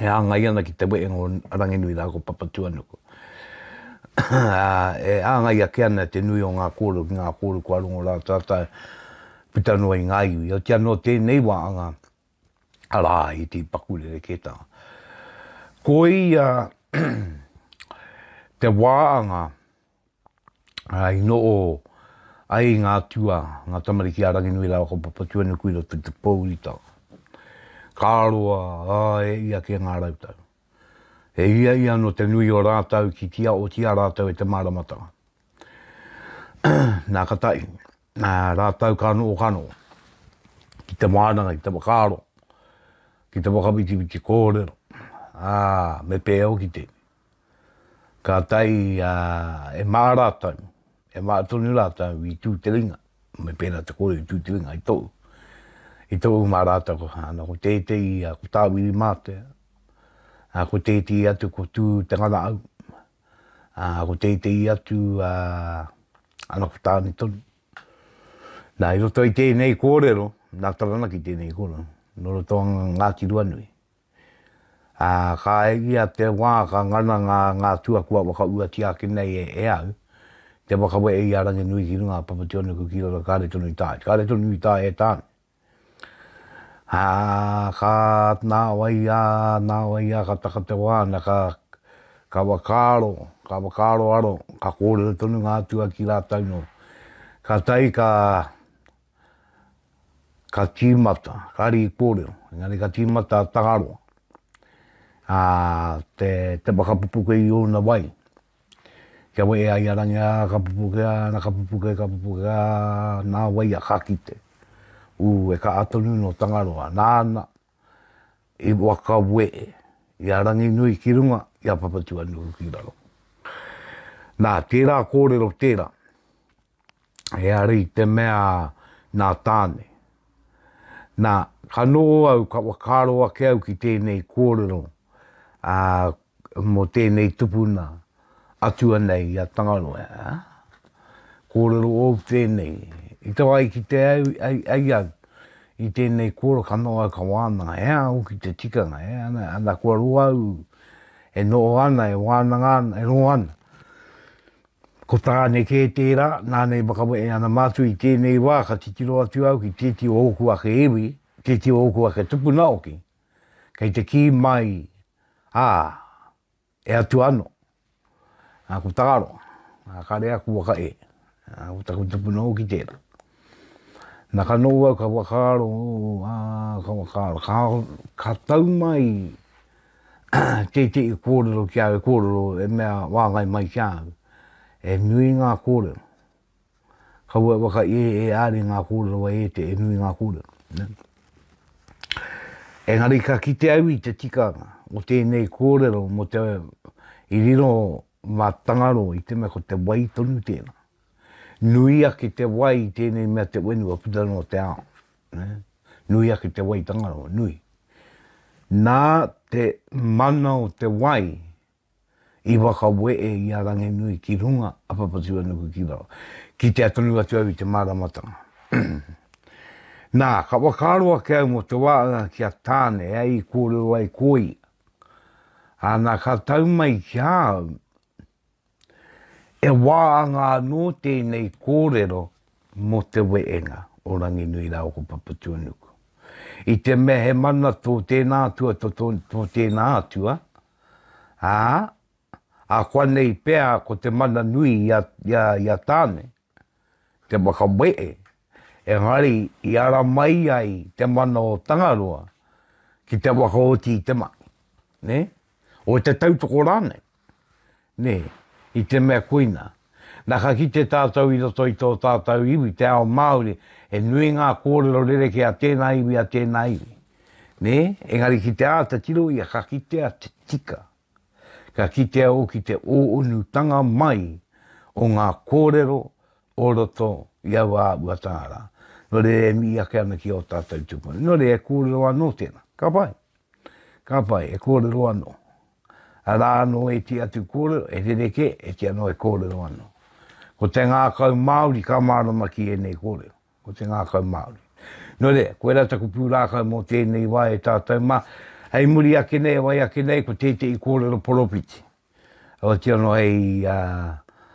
e hāngai ana ki te wehenga o Ranginui rā ko Papatūānuku. Ā, e hāngai ake ana te nui o ngā kōrero ki ngā kōrero kua rongo rā tātou puta noa i ngā iwi. Otiia nō tēnei wā anga, arā, i te paku rerekētanga. Ko ia te wā anga, i noho ai ngā atua, ngā tamariki a Ranginui rāua ko Papatuanuku i roto i te pōuriuta. Ka roa, ā, e ia kē ngā rau tau. E ia ia anō te nui o rātou ki tia otia rātou e te māramatanga. Nā ka tahi, rātou ka noho ka noho ki te wānanga, ki te whakaaro, ki te whakawhitiwhiti kōrero, ā, me pēhea hoki tēnei. Kātahi e mā rātou, e mā tonu rātou i tū te ringa, me pērā te kōrero i tū te ringa, i tou, i tou mā rātou, ana ko tētehi, ko Tāwiri Mātea, ko tētehi atu ko Tū Te Nganaau, ko tētehi atu, ana ko Tāne tonu. Nā, i roto i tēnei kōrero, nā Taranaki tēnei kōrero, nō roto o Ngāti Ruanui. Ā, ka ai ia te wā ka ngana ngā, ngā tua kua whakauatia ake nei e, e au, te whakawehe i a Ranginui ki runga a Papationiku ki roto, kāre tonu i taea, kāre tonu i taea e tāna. Ā, ka, nā wai ā, nā wai ā ka taka te wā na ka, ka whakaaro, ka whakaaroaro, ka kōrero tonu ngā atua ki rātou nō. Kātahi ka, ka tīmata, ka rī kōrero, engari ka tīmata a Tangaroa, a te, te whakapupuke i ōna wai. Kia wē ai a rangi, ā, ka pupuke, ā, na ka pupuke, ka pupuke, ā, nā wai a ka kite. Ū, e kaha tonu nō Tangaroa, nāna, i whakawe i a Ranginui ki runga, i a Papatuanuku ki raro. Nā, tērā kōrero tērā, he ara i te mea nā Tāne. Nā, ka nō au, ka whakaro ake au ki tēnei kōrero, ā, mō tēnei tupuna atua nei i a Tangaroa, ā. Kōrero ōu tēnei, i te wā i kite ai au i tēnei kōrero ka noho au ka wānanga, he aha hoki te tikanga, he aha, ana kua roa au e noho ana, e wānanga ana, e roa ana. Ko tāne kē tērā, nāna i whakawehe ana mātou i tēnei wā ka titiro atu au ki tēti o ōku ake iwi, tēti o ōku ake tupuna hoki, kei te kī mai, ā, e atu anō, ā, ko Tangaroa, ā, kāre aku waka e, ā, ko taku tupuna hoki tērā. Na ka noho au ka whakaaro, ā, ka whakaaro, ka, ka tau mai tētehi kōrero ki au, e kōrero, e mea wāngai mai ki a au, e nui ngā kōrero. Kaua e waka i e are nga korero a e te e nui nga korero. Engari ka kite au i te tikanga o tenei korero mo te i riro ma Tangaro i te me ko te wai tonu tena. Nui ake te wai i tenei mea te wenua puta no te ao. Nui ake te wai Tangaro, nui. Na te mana o te wai, i whakawee i a Ranginui ki runga a Papatūānuku ki waho, kitea tonu atu au i te māramatanga. Nā, ka whakaaro ake au mō te wā ki a Tāne e ai i kōrero ai ko ia, ā, nā ka tau mai ki a au, e waanga anō tēnei kōrero mō te weenga o Ranginui rāua ko Papatūānuku. I te mea he mana tō tēnā atua, tō tēnā atua, ā, ākuanei pea ko te mana nui i a Tāne te whakawehe, engari i ara mai ai te mana o Tangaroa ki te whakaoti i te mahi, nē, o te tautoko rānei. Nē, i te mea koina, nā ka kite tātou i roto i tō tātou iwi, te ao Māori, he nui ngā kōrero rerekē a tēnā iwi, a tēnā iwi. Nē, engari ki te āta tiro ia ka kitea te tika, ka kitea hoki te ō-unutanga mai o ngā kōrero o roto i aua āhua tāra. Nō reira e mihi ake ana ki ō tātou tupuna. Nō reira e kōrero anō tēnā. Ka pai. Ka pai, e kōrero anō. Arā anō e iti atu kōrero, e rerekē, e iti anō e kōrero anō. Ko te ngākau Māori ka mārama ki ēnei kōrero. Ko te ngākau Māori. Nō reira, koirā taku pūrākau mō tēnei wā e tātou mā. Hei muri ake nei, e wai ake nei, ko tētehi kōrero poropiti. Otianō hei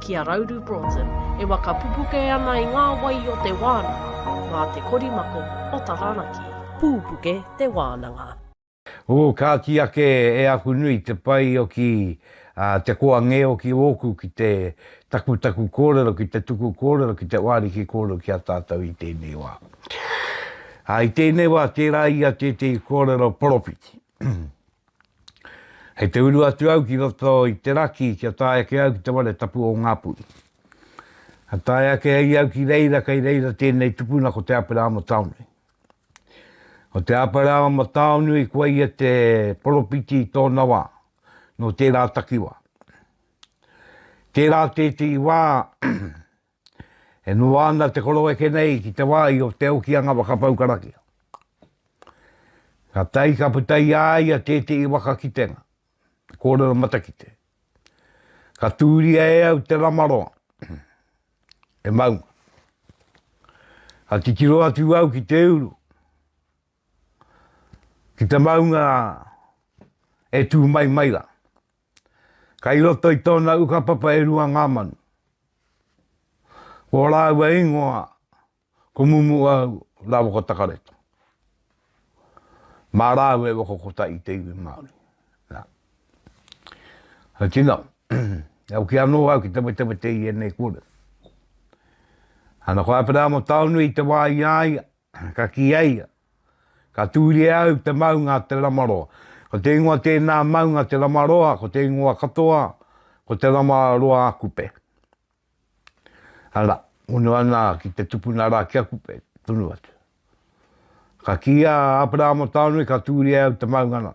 Ki a Rauru Broughton, e waka pupuke ana i ngā wai o te wānanga, mā te korimako o Taranaki. Pūpuke te wānanga. Ū, ka kī ake e aku nui te pai o ki a te koa ngē o ki ōku ki te takutaku kōrero, ki te tuku kōrero, ki te wāriki kōrero ki a tātou i tēnei wā. Ā, i tēnei wā, tērā ia tētehi kōrero poropiti. Hei te uru atu au ki roto i te raki kia tae ake au ki te ware tapu o Ngāpuhi. Ka tae ake ai au ki reira kei reira tēnei tupuna ko Te Apera a Mataonui. Ko Te Apera a Mataonui kua ia te poropiti i tōna wā, nō tērā takiwā. Tērā tētehi wā E noa ana te koroeke nei ki te wāhi o Te Okianga Whakapau Karakia. Ka tae ka puta i a ia tētehi waka kitenga, te kōrero matakite. Ka tūria e au te ramaroa, e maunga. Ka titiro atu au ki te uru, ki te maunga e tū mai mai rā. Kai roto i tōna ukapapa e rua ngā manu. Ko rāua ingoa, ko Mumuau Rawaka Takareto. Mā rāua e waka kota i te iwi Māori. Nā. Hei tino, e au ki anō au ki te wetewete i enei kore. Ana ko Aperamo Taonui te wā i aia, ka ki aia, Ka tūria au te maunga a Te Ramaroa. Ko te ingoa tēnā maunga Te Ramaroa, ko te ingoa katoa, ko Te Ramaroa-a-Kupe. Ara, hono ana ki te tupuna rā ki a Kupe, tonu atu. Ka kī a Aperahama Taonui ka tūria au te maunga nā.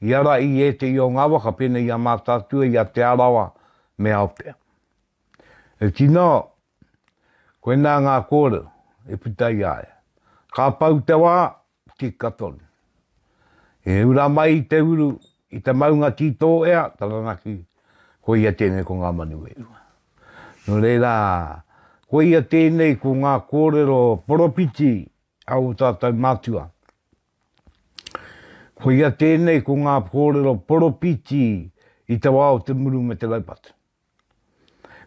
I ara i ētehi o ngā waka pēnei i a Mātaatua, i a Te Arawa me Aotea. E tino, koinā ngā kōrero i puta i a ia. Ka pau te wā, tika tonu. E ura mai i te uru, i te maunga tī tō ea, Taranaki, koia tēnei ko ngā manu e rua. Nō reira, koia tēnei ko ngā kōrero poropiti a ō tātou mātua. Koia tēnei ko ngā kōrero poropiti i te wā o te muru me te raupatu.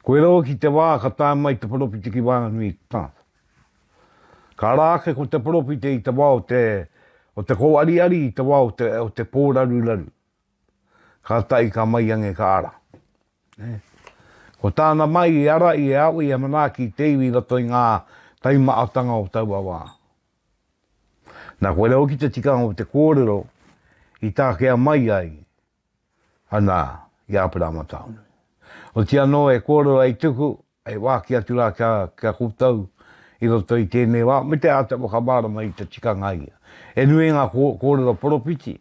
Koe rau ki te wā ka tae mai te poropiti ki waenganui i te tangata. Ka ara ake ko te poropiti i te wā o te, o te kōariari i te wā o te, o te pōraruraru. Ka tae ka mai ange ka ara. Eh. Ko tāna mai i ara i e awe i a Manaaki i te iwi i roto i ngā taimaatanga o taua wā. Nā, koe rā hoki te tikanga o te kōrero i tākea mai ai ana i Āperama Taonui. Oti anō e kōrero ai tuku, e wāki atu rā kia, kia koutou i roto i tēnei wā, me te āta whakamārama i te tikanga ia. E nui ngā kōrero poropiti,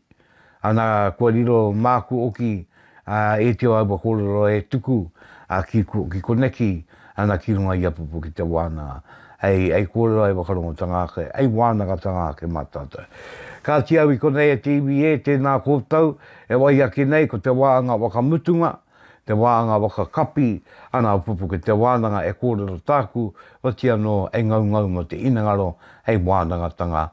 Ana, kua riro māku oki, ā, e te o aua kōrero e tuku, ā, ki, ki koneki, ana, ki runga i a Pupu ki te wānanga, hei, hei kōrero, hei whakarongotanga ake, hei wānangatanga ake mā tātou. Kāti au i konei e te iwi ē, tēnā koutou, e wai ake nei, ko te wānga whakamutunga, te wānga whakakapi, ana, o Pupu ki te wānanga e kōrero tāku, otianō, hei ngaungau mō te inengaro, hei wānangatanga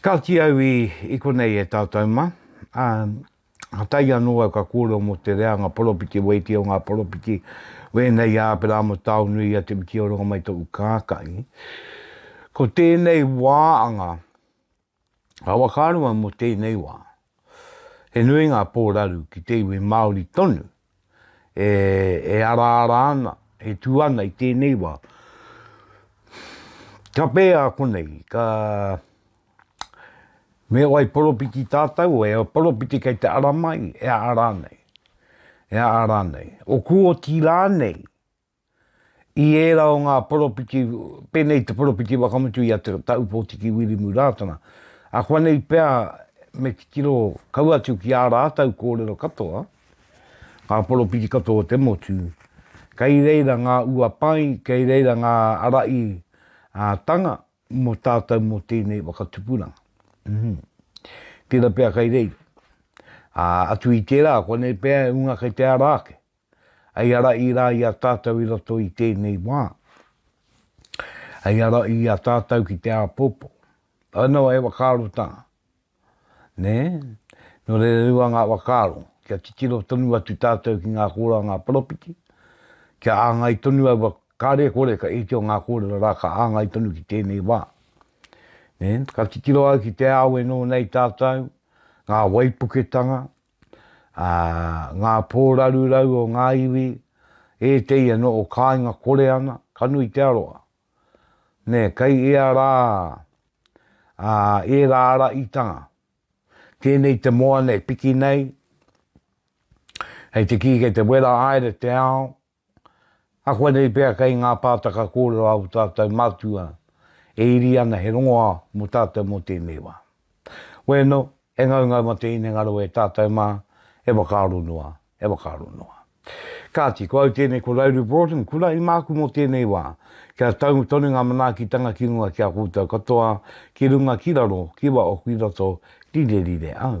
Ka kī au i konei e tātou mā, ā, ka tae anō au ka kōrero mō te reanga poropiti waiiti o ngā poropiti wēnei i a Āperāma o Taonui i a Te Whiti o Rongamai toku kākahi. Ko tēnei wā anga, ka whakaaro au mō tēnei wā, he nui ngā pōraru ki te iwi Māori tonu e, e araara ana, e tū ana i tēnei wā. Ka pēhea konei, ka, me wai poropiti tātou, e poropiti kei te ara mai, e ara nei, e ara nei. O Kuoti rānei, I ērā o ngā poropiti, pēnei te poropiti whakamutu i a Te Taupōtiki Wirimu Rātana, akuanei pea me titiro kau atu ki ā rātau kōrero katoa, ngā poropiti katoa o te motu, kei reira ngā uapai, kei reira ngā araī a tanga mō tātau mō tēnei whakatupuranga. Uhm. Tērā pea kei reira. Ā, atu i tērā, akuanei pea e unga kei te ara ake. Hei ara i ra i a tatou i roto i tenei wa. Hei ara i a tatou ki te apopo. Au no e whakaaro ta. Ne? No rere rua nga whakaaro. Kia titiro tonu atu tatou ki nga kora nga poropiti. Kia angai tonu aua kare kore ka eke o nga korero ra ka angai tonu ki tenei wa. Ne? Ka titiro au ki te awe no nei tatou, nga waipuketanga, ā, ngā pō rarurau o ngā iwi, ētehi anō o kāinga kore ana, ka nui te aroha. Nē, kei ea rā ā, ērā ara itanga. Tēnei te moana e piki nei, hei te kī kei te wera haere te ao, Ahuanei pea kei ngā pātaka kōrero āu tātou mātua e iri ana he rongoā mō tātou mō tēnei wā. Wēno, he ngaungau mā te hinengaro e tātou mā, e whakaaro noa, e whakaaro noa. Kāti, ko au tēnei ko Rauru Broughton, kura i māku mō tēnei wā. Kia tau tonu ngā manaakitanga ki runga ki a koutou katoa, ki runga ki raro, ki waho ki roto, rire rire au.